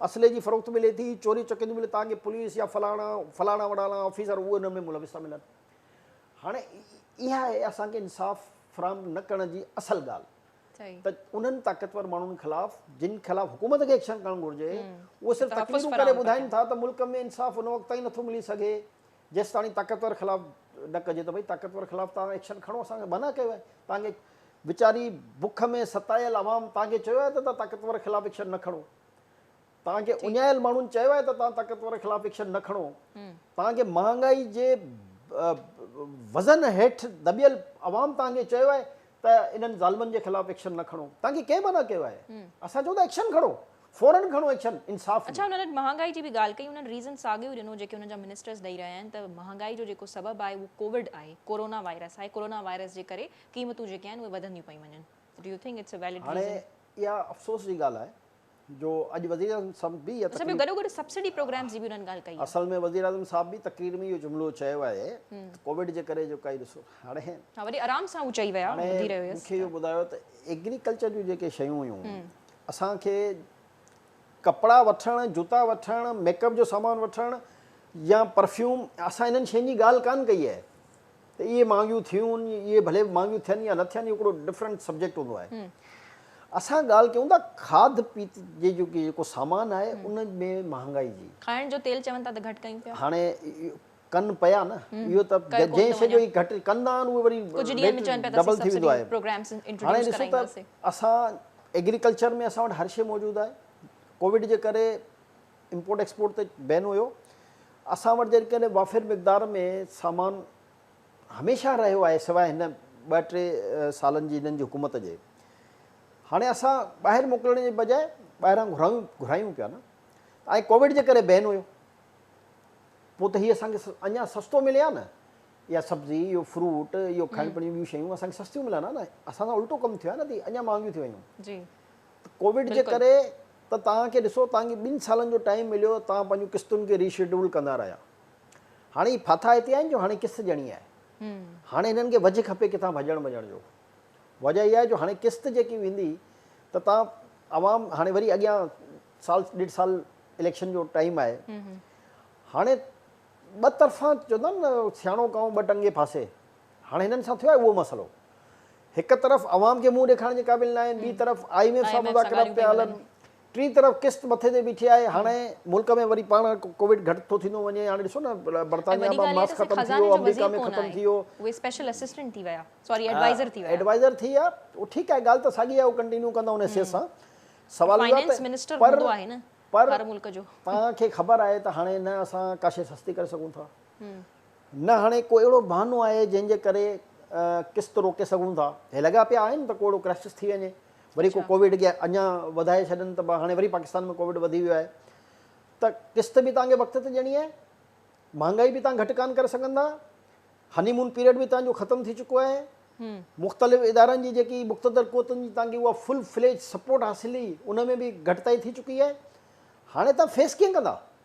اسلحي جي فروخت ملي ٿي، چوريون چڪريون ملي توهان کي پوليس يا فلاڻا فلاڻا وڙاڻا آفيسر اهي ان ۾ ملوث ٿا ملن. هاڻي اها آهي اسان کي انصاف فراهم نه ڪرڻ جي اصل ڳالهه ته انهن طاقتور ماڻهن خلاف جن خلاف حڪومت کي ايڪشن کڻڻ گهرجي اهي صرف تقريرون ڪري ٻڌائين ٿا ته ملڪ ۾ انصاف ان وقت تائين نٿو ملي سگهي جيستاڻي طاقتور خلاف نه ڪجي ته ڀئي طاقتور خلاف توهان ايڪشن کڻو اسان منع ڪيو آهي توهان کي ويچاري بک ۾ ستايل عوام توهان کي چيو آهي ته توهان طاقتور خلاف ايڪشن نه کڻو توهان کي اڃايل ماڻهن چيو آهي ته توهان طاقتور خلاف ايڪشن نه کڻو توهان کي مهانگائي جي وزن هيٺ دٻيل عوام توهان کي چيو آهي ته انهن ظالمن جي خلاف ايڪشن نه کڻو توهان کي ڪنهن منع ڪيو آهي اسان چئون ٿا ايڪشن کڻو فورن کڻو ايڪشن انصاف ڏيو. اڇا هنن اڄ مهانگائي جي به ڳالهه ڪئي هنن ريزن ساڳيو ڏنو جيڪي هنن جا منسٽرز ڏئي رهيا آهن ته مهانگائي جو جيڪو سبب آهي اهو ڪووڊ آهي ڪورونا وائرس آهي ڪورونا وائرس جي ڪري قيمتون جيڪي آهن اهي وڌنديون پيون وڃن do you think it's a valid reason هاڻي اها افسوس جي ڳالهه آهي جو اڄ وزيراعظم سمت به اها تقرير. اسان گڏو گڏ سبسڊي پروگرامز جي به انهن ڳالهه ڪئي آهي. اصل ۾ وزيراعظم صاحب به تقرير ۾ اهو جملو چيو آهي ته ڪووڊ جي ڪري جيڪا هي ڏسو هاڻي. ها وڏي آرام سان هو چئي ويا هاڻي ٻڌي رهيو هيس مون کي اهو ٻڌايو ته ايگريڪلچر جون جيڪي شيون هيون اسان کي ڪپڙا وٺڻ جوتا وٺڻ ميڪ اپ جو سامان وٺڻ يا پرفيوم اسان انهن شين جي ڳالهه ڪانه ڪئي آهي ته اهي مهانگيون ٿيون اهي ڀلي مهانگيون ٿين يا نه ٿين اهو هڪڙو ڊفرنٽ سبجيڪٽ هوندو آهي اسان ڳالهه ڪيون ٿا کاڌ پيت جي جيڪو سامان آهي ان ۾ مهانگائي جي کائڻ جو تيل چون ٿا ته گهٽ ڪيون پيا هاڻي ڪن پيا نه اهو ته جنهن شي جو گهٽ ڪندا آهن اهو وري ڪجهه ڏينهن ۾ چون پيا ته اسين سبسڊي پروگرامز انٽروڊيوس ڪرائينداسين اسان ايگريڪلچر ۾ اسان وٽ هر شي موجود آهي ڪووڊ جي ڪري امپورٽ ايڪسپورٽ تي بين هيو. اسان وٽ جيڪڏهن وافر مقدار ۾ سامان هميشه رهيو آهي سواء هن ٻه ٽي سالن جي هنن جي حڪومت جي. هاڻي اسان ٻاهر موڪلڻ جي بجاء ٻاهران گهرايون گهرايون پيا نه. ۽ ڪووڊ جي ڪري بين هيو. پوء ته هي اسان کي اڃا سستو ملي ها نه. اها سبزي، اهو فروٽ، اهو کائڻ پيئڻ جون ٻيون شيون اسان کي سستيون ملن ها نه. اسان سان الٽو ڪم ٿيو آهي نه ته اهي اڃا مهانگيون ٿي ويون. ڪووڊ جي ڪري ته توهان کي ڏسو توهان کي ٻن سالن جو ٽائيم مليو توهان پنهنجون قسطن کي ري شيڊول ڪندا رهيا هاڻي هي ڦاٿا هتي آهن جو هاڻي قسط ڏيڻي آهي هاڻي هنن کي وجهه کپي ڪٿان ڀڄڻ وڃڻ جو وجهه اها آهي جو هاڻي قسط جيڪي ويندي ته توهان عوام هاڻي وري اڳيان سال ڏيڍ سال اليڪشن جو ٽائيم آهي هاڻي ٻه طرفان چوندا آهن نه سياڻو ڪانء ٻه ٽنگي ڦاسي هاڻ هنن سان ٿيو آهي اهو مسئلو. هڪ طرف عوام کي منهن ڏيکارڻ جي قابل ناهن، ٻي طرف آء ايم ايف سان مذاڪرات پيا هلن، ٽين طرف قسط مٿي تي بيٺي آهي، هاڻ ملڪ ۾ وري پاڻ ڪووڊ گهٽ ٿو ٿيندو وڃي، هاڻ ڏسو نه برطانيا مان ماسڪ ختم ٿي ويو، آمريڪا ۾ ختم ٿي ويو. ايڊوائزر ٿي ويا، ٺيڪ آهي ڳالهه ته ساڳي آهي هو ڪنٽينيو ڪندا ان حيثيت سان، سوال اهو آهي ته پر پر توهان کي خبر آهي ته هاڻي نه اسان ڪاشي سستي ڪري سگهون ٿا. نه هاڻي ڪو اهڙو بهانو آهي جنهن جي ڪري قسط روڪي سگهون ٿا. هي لڳا پيا آهن ته ڪو اهڙو ڪرائسس ٿي وڃي وري ڪو ڪووڊ کي اڃا وڌائي ڇڏن ته هاڻي وري پاڪستان ۾ ڪووڊ وڌي ويو آهي ته قسط به توهان کي وقت تي ڏيڻي آهي، مهانگائي به توهان گهٽ ڪانه ڪري سگهندا، هني مون پيريڊ به توهان جو ختم ٿي چڪو آهي، مختلف ادارن جي جيڪي مقتدر قوتن جي توهان کي اها فل فليج سپورٽ حاصل هئي ان ۾ به گهٽتائي ٿي چڪي آهي، هاڻي توهان فيس ڪيئن ڪندا؟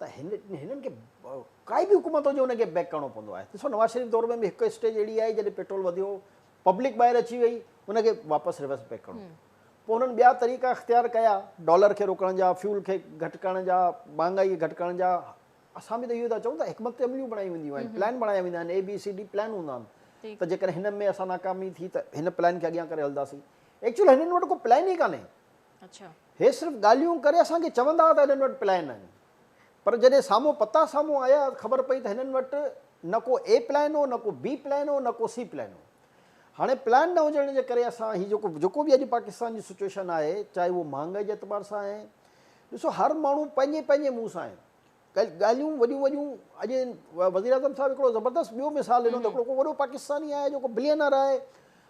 ته هنن کي ڪائي به حڪومت هجي ان کي بيڪ ڪرڻو پوندو آهي ڏسو نواز شريف دور ۾ به هڪ اسٽيج اهڙي آئي جڏهن پيٽرول وڌيو پبلڪ ٻاهر اچي وئي ان کي واپس ريورس بيڪ ڪرڻو پيو پوء هنن ٻيا طريقا اختيار ڪيا ڊالر کي روڪڻ جا فيول کي گهٽ ڪرڻ جا مهانگائي کي گهٽ ڪرڻ جا اسان به ته اهو ٿا چئون ته حڪمت عمليون بڻايون وينديون آهن پلان بڻايا ويندا آهن A B C D plan هوندا آهن ته جيڪڏهن هن ۾ اسان ناڪامي ٿي ته هن پلان کي اڳيان ڪري هلنداسين ايڪچوئل هنن وٽ ڪو پلان ئي ڪانهي هي صرف ڳالهيون ڪري اسان کي چوندا هئا ته هنن وٽ پلان آهن پر جڏهن سامهون پتا سامهون آيا ته خبر پئي ته هنن وٽ نه ڪو اي پلان هو نه ڪو بي پلان هو نه ڪو سي پلان هو. هاڻي پلان نه هجڻ جي ڪري اسان هي جيڪو جيڪو به اڄ پاڪستان جي سچوئيشن آهي چاهي اهو مهانگائي جي اعتبار سان آهي ڏسو هر ماڻهو پنهنجي پنهنجي منهن سان آهي ڳالهيون وڏيون وڏيون اڄ وزيراعظم صاحب هڪڙو زبردست ٻيو مثال ڏنو ته هڪڙو ڪو وڏو پاڪستاني آهي جيڪو بليئنر آهي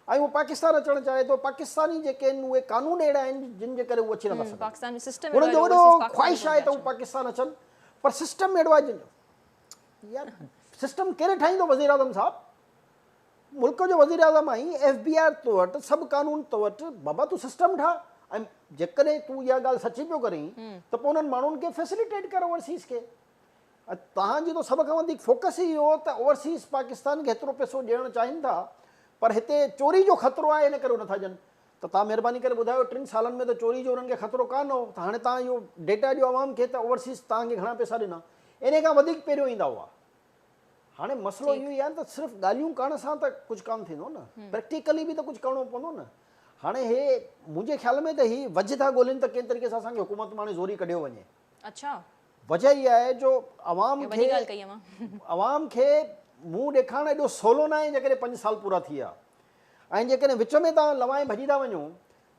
۽ هو پاڪستان اچڻ چاهي ٿو پاڪستاني جيڪي آهن اهي قانون اهڙا آهن جن جي ڪري هو اچي نٿا سگهن هنن جو وڏو خواهش آهي ته هو پاڪستان اچن پر سسٽم اهڙو آهي جن جو يار سسٽم ڪير ٺاهيندو وزيراعظم صاحب ملڪ جو وزيراعظم ۽ ايف بي آر تو وٽ سڀ قانون تو وٽ بابا تون سسٽم ٺاهه ۽ جيڪڏهن تون اها ڳالهه سچي پيو ڪرين ته پوء انهن ماڻهن کي فيسليٽيٽ ڪر اوورسيز کي توهان جي ته سڀ کان وڌيڪ فوڪس ئي اهو ته اوورسيز پاڪستان کي هيترو پيسو ڏيڻ چاهين ٿا پر هتي چوري جو خطرو آهي ان ڪري هو نٿا ڏين ته تان مهرباني ڪري ٻڌايو ٽن سالن ۾ ته چوري جو انهن کي خطرو ڪانه هو ته هاڻي تان اهو ڊيٽا ڏيو عوام کي ته اوورسيز تان کي گهڻا پيسا ڏنا انهي کان وڌيڪ پهريون ايندا هئا هاڻي مسئلو اهو ئي آهي ته صرف ڳالهيون ڪرڻ سان ته ڪجهه ڪانه ٿيندو نه، پريڪٽيڪلي به ته ڪجهه ڪرڻو پوندو نه. هاڻي هي منهنجي خيال ۾ ته هي وجهه ٿا ڳولين ته ڪنهن طريقي سان اسان کي حڪومت مان هاڻي زوري ڪڍيو وڃي. اڇا. وجهه اها آهي جو عوام کي عوام کي منهن ڏيکارڻ ايڏو سولو ناهي جيڪڏهن پنج سال پورا ٿي ويا ۽ جيڪڏهن وچ ۾ تان لوائي ڀڄي ٿا وڃو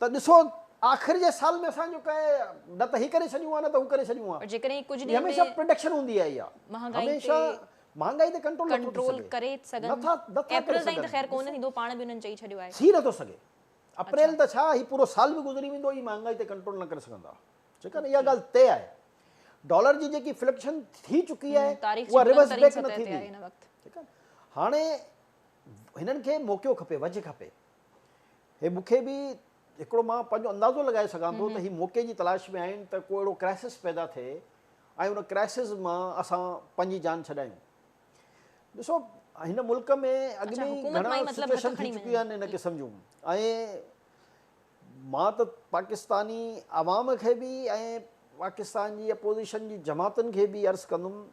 ته ڏسو آخر جي سال ۾ اسان جو ڪنهن نه ته هي ڪري ڇڏيون ها نه ته هو ڪري ڇڏيون ها. هي هميشه پرڊڪشن هوندي آئي آهي. هميشه مهانگائي تي ڪنٽرول نٿو ٿي سگهي. ڪري سگهن. نٿا ڪري سگهن. ته خير ڪونه ٿيندو پاڻ به انهن چئي ڇڏيو آهي. ٿي نٿو سگهي. اپريل ته ڇا هي پورو سال به گذري ويندو هي مهانگائي تي ڪنٽرول نه ڪري سگهندا. ٺيڪ آهي نه اها ڳالهه طئي آهي. ڊالر جي جيڪي فلڪشن ٿي چڪي آهي اها ريورس بيڪ نه ٿيندي. ٺيڪ آهي نه هاڻي هنن کي موقعو کپي وجهه کپي. هي مون کي به هڪڙو مان پنهنجو اندازو لڳائي سگهان ٿو ته هي موقعي جي تلاش ۾ آهن ته ڪو اهڙو ڪرائسس پيدا ٿئي ۽ ان ڪرائسس مان اسان پنهنجي جان ڇڏايون ڏسو هن ملڪ ۾ اڳ ۾ ئي گهڻا سچويشن ٿي چڪيون آهن ان قسم جون ۽ مان ته پاڪستاني عوام کي به ۽ پاڪستان جي اپوزيشن جي جماعتن کي به عرض ڪندم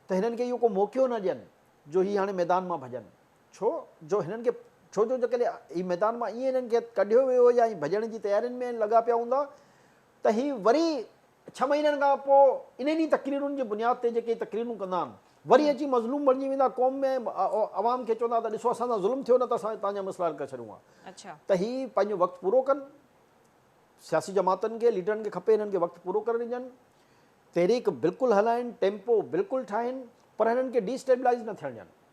ته هنن کي اهو ڪو موقعو نه ڏين جو هي هاڻي ميدان مان ڀڄن ڇو جو هنن کي ڇو جو جيڪڏهن هي ميدان مان ائين هنن کي ڪڍيو ويو هو يا هي ڀڄڻ جي تيارين ۾ لڳا پيا هوندا ته هي وري ڇهه مهينن کان پوء انهن ئي تقريرن جي بنياد تي جيڪي تقريرون ڪندا آهن وري اچي مظلوم بڻجي ويندا قوم ۾ عوام کي چوندا ته ڏسو اسان سان ظلم ٿيو نه ته اسان تان جا مسئلا حل ڪري ڇڏيون ها ته هي پنهنجو وقت پورو ڪن سياسي جماعتن کي ليڊرن کي کپي هنن کي وقت پورو ڪرڻ ڏجن تحريڪ بلڪل هلائن ٽيمپو بلڪل ٺاهن پر هنن کي ڊي اسٽيبلائز نه ٿيڻ ڏين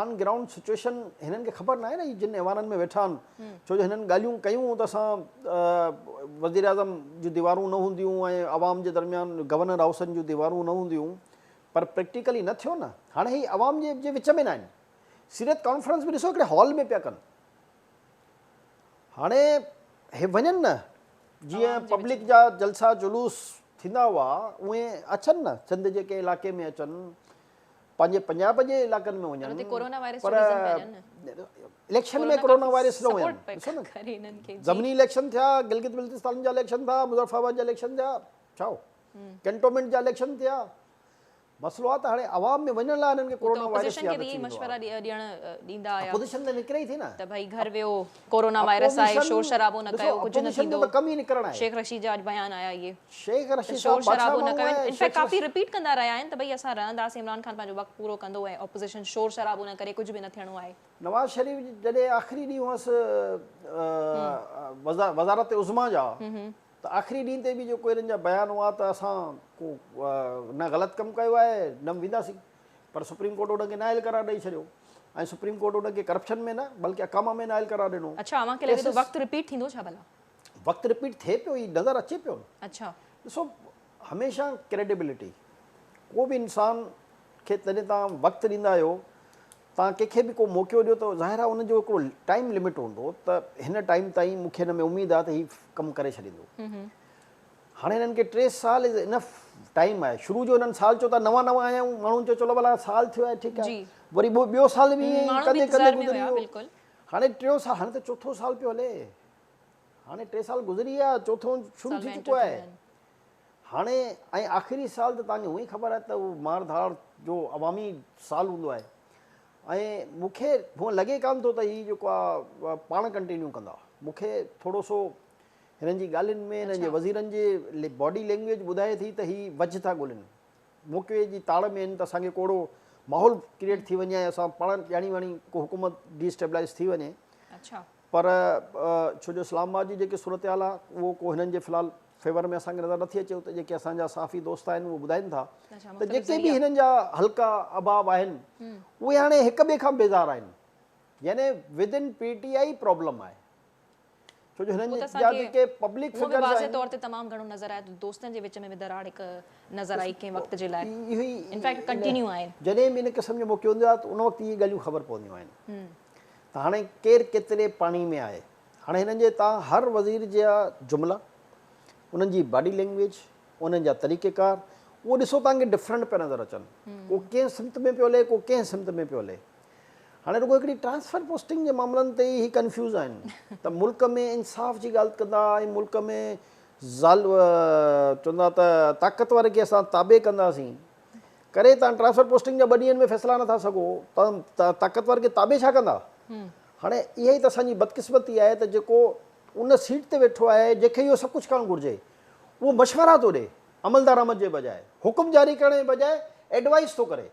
آن گرائونڊ سچوئيشن هنن کي خبر ناهي نه هي جن ايوانن ۾ ويٺا آهن ڇو جو هنن ڳالهيون ڪيون ته اسان وزيراعظم جون ديوارون نه هونديون ۽ عوام جي درميان گورنر هائوسن جون ديوارون نه هونديون پر پريڪٽيڪلي نه ٿيو نه هاڻي هي عوام جي وچ ۾ ناهن سيرت ڪانفرنس به ڏسو هڪڙي هال ۾ پيا ڪن هاڻي هي وڃن نه جي پبلڪ جا جلسا جلوس ٿيندا هئا اهي اچن نه چند جيڪي علائقي ۾ اچن پنهنجي پنجاب جي علاقن ۾ وڃن پر اليڪشن ۾ ڪورونا وائرس نه ويم ڏسو نه زمني اليڪشن ٿيا گلگت بلتستان جا اليڪشن ٿا مظفر آباد جا اليڪشن ٿيا ڇا ڪينٽومينٽ جا اليڪشن ٿيا مسئلو آ ته هاڻي عوام ۾ وڃڻ لاء هنن کي ڪورونا وائرس ياد اچي ويندو آ اپوزيشن ته نڪري ئي ٿي نه ته ڀئي گهر ويو ڪورونا وائرس آهي شور شرابو نه ڪيو ڪجهه نه ٿيندو شيخ رشيد جا اڄ بيان آيا اهي ته شور شرابو نه ڪيو ان فيڪٽ ڪافي رپيٽ ڪندا رهيا آهن ته ڀئي اسان رهنداسين عمران خان پنهنجو وقت پورو ڪندو ۽ اپوزيشن شور شرابو نه ڪري ڪجهه به نه ٿيڻو آهي. نواز شريف جڏهن آخري ڏينهن هئس وزارت عظميٰ جا ته آخري ڏينهن تي به جيڪو هنن جا بيان هئا ته اسان ڪو نه غلط ڪم ڪيو آهي نه وينداسين پر سپريم ڪورٽ ان کي نااهل قرار ڏئي ڇڏيو ۽ سپريم ڪورٽ ان کي ڪرپشن ۾ نه بلڪه اقامه ۾ نااهل قرار ڏنو. اڇا اوهان کي لڳي ٿو وقت رپيٽ ٿيندو ڇا ڀلا؟ وقت رپيٽ ٿئي پيو هي نظر اچي پيو نه. اڇا. ڏسو هميشه ڪريڊيبلٽي ڪو به انسان کي جڏهن توهان وقت ڏيندا آهيو توهان ڪنهن کي به ڪو موقعو ڏيو ته ظاهر آهي ان جو هڪڙو ٽائيم لمٽ هوندو ته هن ٽائيم تائين مون کي هن ۾ اميد آهي ته هي ڪم ڪري ڇڏيندو. هاڻي هنن کي ٽي سال از انف ٽائيم آهي شروع جو هنن سال چيو ته نوان نوان آيا آهيون ماڻهن چيو چلو ڀلا سال ٿيو آهي ٺيڪ آهي وري ٻيو سال به ائين ڪندي ڪندي گذري ويو هاڻي ٽيون سال هاڻي ته چوٿون سال پيو هلي هاڻي ٽي سال گذري ويا چوٿون شروع ٿي چڪو آهي هاڻي ۽ آخري سال ته تانجو هونئي خبر آهي ته هو مار ڌاڙ جو عوامي سال هوندو آهي ۽ مون کي هو لڳي ڪانه ٿو ته هي جيڪو آهي پاڻ ڪنٽينيو ڪندا مون کي ٿورو سو هنن جي ڳالهين ۾ هنن جي وزيرن جي باڊي لينگويج ٻڌائي ٿي ته هي وجهه ٿا ڳولين. موقعي جي تاڙ ۾ آهن ته اسان کي ڪو اهڙو ماحول ڪريئيٽ ٿي وڃي ۽ اسان پاڻ ڄاڻي واڻي ڪو حڪومت ڊي اسٽيبلائيز ٿي وڃي. پر ڇو جو اسلام آباد جي جيڪي صورتحال آهي اهو ڪو هنن جي في الحال فيور ۾ اسان کي نظر نٿي اچي اتي جيڪي اسان جا صحافي دوست آهن اهي ٻڌائين ٿا ته جيڪي به هنن جا حلقا احباب آهن اهي هاڻي هڪ ٻئي کان بيزار آهن يعني within P T I problem آهي. ڇو جو هنن جي اختيار جي ڪي پبلڪ فگرز آهن. هو به واضح طور تي تمام گهڻو نظر آيو ته دوستن جي وچ ۾ به دراڙ هڪ نظر آئي ڪنهن وقت جي لاء انفيڪٽ ڪنٽينيو آهي. جڏهن به ان قسم جو موقعو ايندو آهي ته ان وقت اهي ڳالهيون خبر پونديون آهن ته هاڻي ڪير ڪيتري پاڻي ۾ آهي. هاڻي هنن جي تان هر وزير جا جملا، انهن جي باڊي لينگويج، انهن جا طريقه ڪار اهو ڏسو تان کي ڊفرنٽ پيا نظر اچن. ڪو ڪنهن سمت ۾ پيو هلي ڪو ڪنهن سمت ۾ پيو هلي. هاڻي رڳو هڪڙي ٽرانسفر پوسٽنگ جي معاملن تي ئي هي ڪنفيوز آهن ته ملڪ ۾ انصاف جي ڳالهه ڪندا ۽ ملڪ ۾ چوندا ته طاقتور کي اسان تابع ڪنداسين ڪري تان ٽرانسفر پوسٽنگ جا ٻه ڏينهن ۾ فيصلا نٿا سگهو ته طاقتور کي تابع ڇا ڪندا هاڻي اها ئي ته اسان جي بدقسمتي آهي ته جيڪو ان سيٽ تي ويٺو آهي جنهن کي اهو سڀ ڪجهه ڪرڻ گهرجي اهو مشورا ٿو ڏي عملدارامد جي بجاء حڪم جاري ڪرڻ جي بجاء ايڊوائيس ٿو ڪري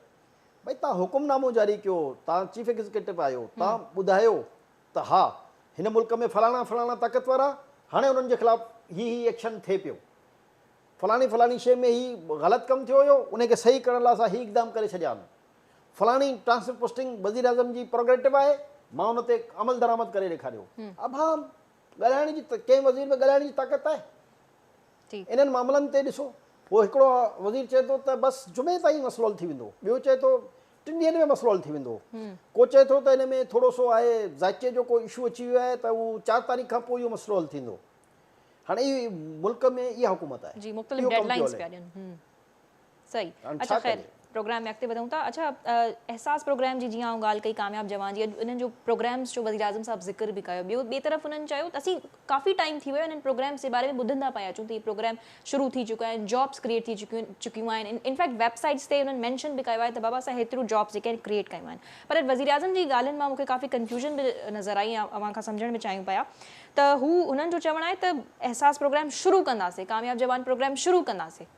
ڀاء توهان حڪم نامو جاري ڪيو، توهان چيف ايگزيڪيوٽو آهيو، توهان ٻڌايو ته ها هن ملڪ ۾ فلاڻا فلاڻا طاقتور آ، هاڻي انهن جي خلاف هي هي ايڪشن ٿئي پيو، فلاڻي فلاڻي شيء ۾ هي غلط ڪم ٿيو هيو، انهي کي صحيح ڪرڻ لاء اسان هي اقدام ڪري ڇڏيا آهن، فلاڻي ٽرانسفر پوسٽنگ وزيراعظم جي پروگريٽو آهي، مان ان تي عملدرآمد ڪري ڏيکاريو. ابهام. ڳالهائڻ جي ڪنهن وزير ۾ ڳالهائڻ جي طاقت آهي؟ انهن معاملن تي ڏسو. پوء هڪڙو وزير چئي ٿو ته بس جمعي تائين مسئلو حل ٿي ويندو، ٻيو چئي ٿو ٽن ڏينهن ۾ مسئلو حل ٿي ويندو، ڪو چئي ٿو ته ان ۾ ٿورو سو آهي ذائقي جو ڪو اشو اچي ويو آهي ته اهو چار تاريخ کان پوء اهو مسئلو حل ٿيندو. هاڻي ملڪ ۾ اها حڪومت آهي. اهو ڪم پيو هلي. صحيح اچا خير پروگرام ۾ اڳتي وڌون ٿا اچا احساس پروگرام جي جيئن آئون ڳالهه ڪئي ڪامياب جوان جي انهن جو پروگرامز جو وزير اعظم صاحب ذڪر به ڪيو ٻيو ٻي طرف انهن چيو ته اسين ڪافي ٽائيم ٿي ويو انهن پروگرامز جي باري ۾ ٻڌندا پيا اچون ته هي پروگرام شروع ٿي چڪا آهن جابس ڪريئيٽ ٿي چڪيون چڪيون آهن انفيڪٽ ويب سائيٽس تي انهن مينشن به ڪيو آهي ته بابا اسان هيتريون جابس جيڪي آهن ڪريئيٽ ڪيون آهن پر وزير اعظم جي ڳالهين مان مونکي ڪافي ڪنفيوژن به نظر آئي ۽ اوهان کان سمجهڻ به چاهيون پيا ته هو انهن جو چوڻ آهي ته احساس پروگرام شروع ڪنداسين ڪامياب جوان پروگرام شروع ڪنداسين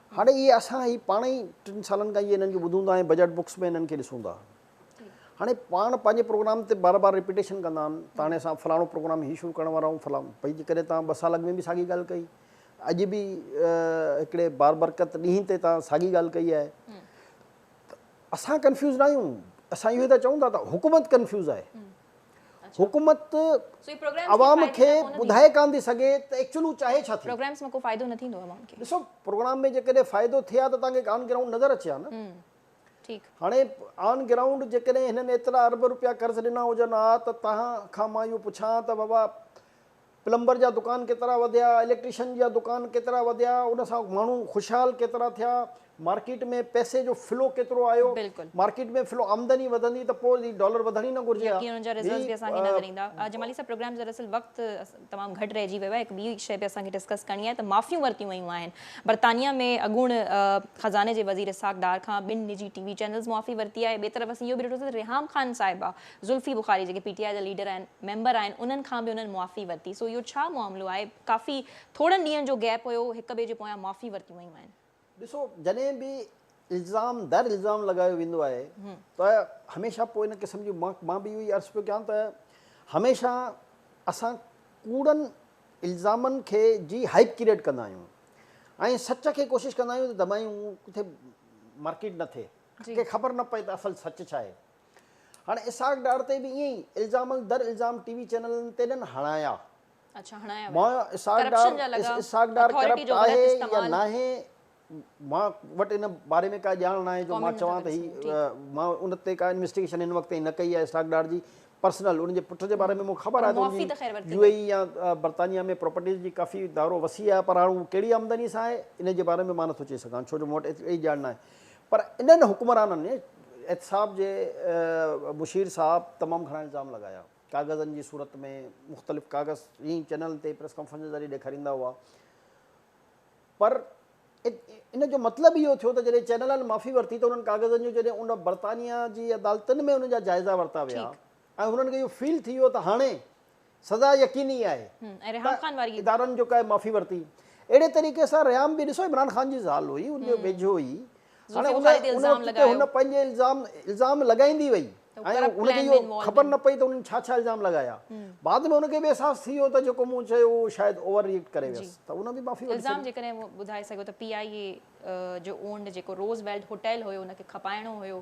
هاڻي اهي اسان هي پاڻ ئي ٽن سالن کان اهي انهن کي ٻڌون ٿا ۽ بجيٽ بڪس ۾ انهن کي ڏسون ٿا. هاڻي پاڻ پنهنجي پروگرام تي بار بار رپيٽيشن ڪندا آهن ته هاڻي اسان فلاڻو پروگرام هي شروع ڪرڻ وارا آهيون فلان پئي جيڪڏهن توهان ٻه سال اڳ ۾ به ساڳي ڳالهه ڪئي اڄ به هڪڙي بابرڪت ڏينهن تي توهان ساڳي ڳالهه ڪئي آهي ته اسان ڪنفيوز ناهيون اسان اهو ٿا چئون ٿا ته حڪومت ڪنفيوز آهي. حڪومت عوام کي ٻڌائي ڪانه ٿي سگهي ته ايڪچوئل هو چاهي ڇا ٿي. پروگرامز مان ڪو فائدو نه ٿيندو عوام کي. ڏسو پروگرام ۾ جيڪڏهن فائدو ٿئي ها ته توهان کي آن گرائونڊ نظر اچي ها نه. ٺيڪ. هاڻي آن گرائونڊ جيڪڏهن هنن ايترا ارب روپيا قرض ڏنا هجن ها ته توهان کان مان اهو پڇان ته بابا پلمبر جا دڪان ڪيترا وڌيا، اليڪٽريشن جا دڪان ڪيترا وڌيا، ان سان ماڻهو خوشحال ڪيترا ٿيا، مارڪيٽ ۾ پئسي جو فلو ڪيترو آيو، بلڪل. مارڪيٽ ۾ فلو آمدني وڌندي ته پوء هي ڊالر وڌڻ ئي نه گهرجي ها. يقين ان جا رزلٽس به اسان کي نظر ايندا. جمالي صاحب پروگرام جو دراصل وقت تمام گهٽ رهجي ويو آهي هڪ ٻي شئي به اسان کي ڊسڪس ڪرڻي آهي ته معافيون ورتيون ويون آهن برطانيا ۾ اڳوڻ خزاني جي وزير اسحاق ڊار کان ٻن نجي ٽي وي چينلز معافي ورتي آهي ٻئي طرف اسين اهو به ڏٺو ته ريهام خان صاحبه ذلفي بخاري جيڪي پي ٽي آء جا ليڊر آهن ميمبر آهن انهن کان به انهن معافي ورتي سو اهو ڇا معاملو آهي ڪافي ٿورن ڏينهن جو گيپ هيو هڪ ٻئي جي پويان معافي ورتيون ويون آهن. ڏسو جڏهن به الزام در الزام لڳايو ويندو آهي ته هميشه پوء ان قسم جون مان به اهو ئي عرض پيو ڪيان ته هميشه اسان ڪوڙن الزامن کي جي هائپ ڪريئيٽ ڪندا آهيون ۽ سچ کي ڪوشش ڪندا آهيون ته دٻايون ڪٿي مارڪيٽ نه ٿئي ڪنهن کي خبر نه پئي ته اصل سچ ڇا آهي. هاڻ اسحاق ڊار تي به ائين ئي الزامن در الزام ٽي وي چينلن تي ڏن هڻايا. اڇا هڻايا ويا. مايو اسحاق ڊار اسحاق ڊار ڪرپٽ آهي يا ناهي مان وٽ ان باري ۾ ڪا ڄاڻ ناهي جو مان چوان ته هي مان ان تي ڪا انويسٽيگيشن هن وقت تائين نه ڪئي آهي اسحاق ڊار جي پرسنل ان جي پٽ جي باري ۾ مون کي خبر آهي ته ان جي يو اي اي يا برطانيا ۾ پراپرٽيز جي ڪافي دائرو وسيع آهي پر هاڻ هو ڪهڙي آمدني سان آهي ان جي باري ۾ مان نٿو چئي سگهان ڇو جو مون وٽ ايتري ڄاڻ ناهي. پر انهن حڪمرانن احتساب جي مشير صاحب تمام گهڻا الزام لڳايا. ڪاغذن جي صورت ۾ مختلف ڪاغذ ائين ئي چئنلن تي پريس ڪانفرنس جي ذريعي ڏيکاريندا هئا. پر ان جو مطلب اهو ٿيو ته جڏهن چئنلن معافي ورتي ته انهن ڪاغذن جو جڏهن ان برطانيا جي عدالتن ۾ انهن جا جائزا ورتا ويا ۽ هنن کي اهو فيل ٿي ويو ته هاڻي سزا يقيني آهي ته ادارن جو ڪنهن معافي ورتي اهڙي طريقي سان ريام به ڏسو عمران خان جي زال هئي ان جو ويجهو هئي هن پنهنجي الزام الزام لڳائيندي وئي ۽ ان کي اهو خبر نه پئي ته انهن ڇا ڇا الزام لڳايا بعد ۾ ان کي به احساس ٿي ويو ته جيڪو مون چيو اهو شايد اوور ري ايڪٽ ڪري ويس ته ان به معافي ورتي الزام جيڪڏهن ٻڌائي سگهو ته پي آء اي جو اونڊ جيڪو روز ويلٽ هوٽيل هيو ان کي کپائڻو هيو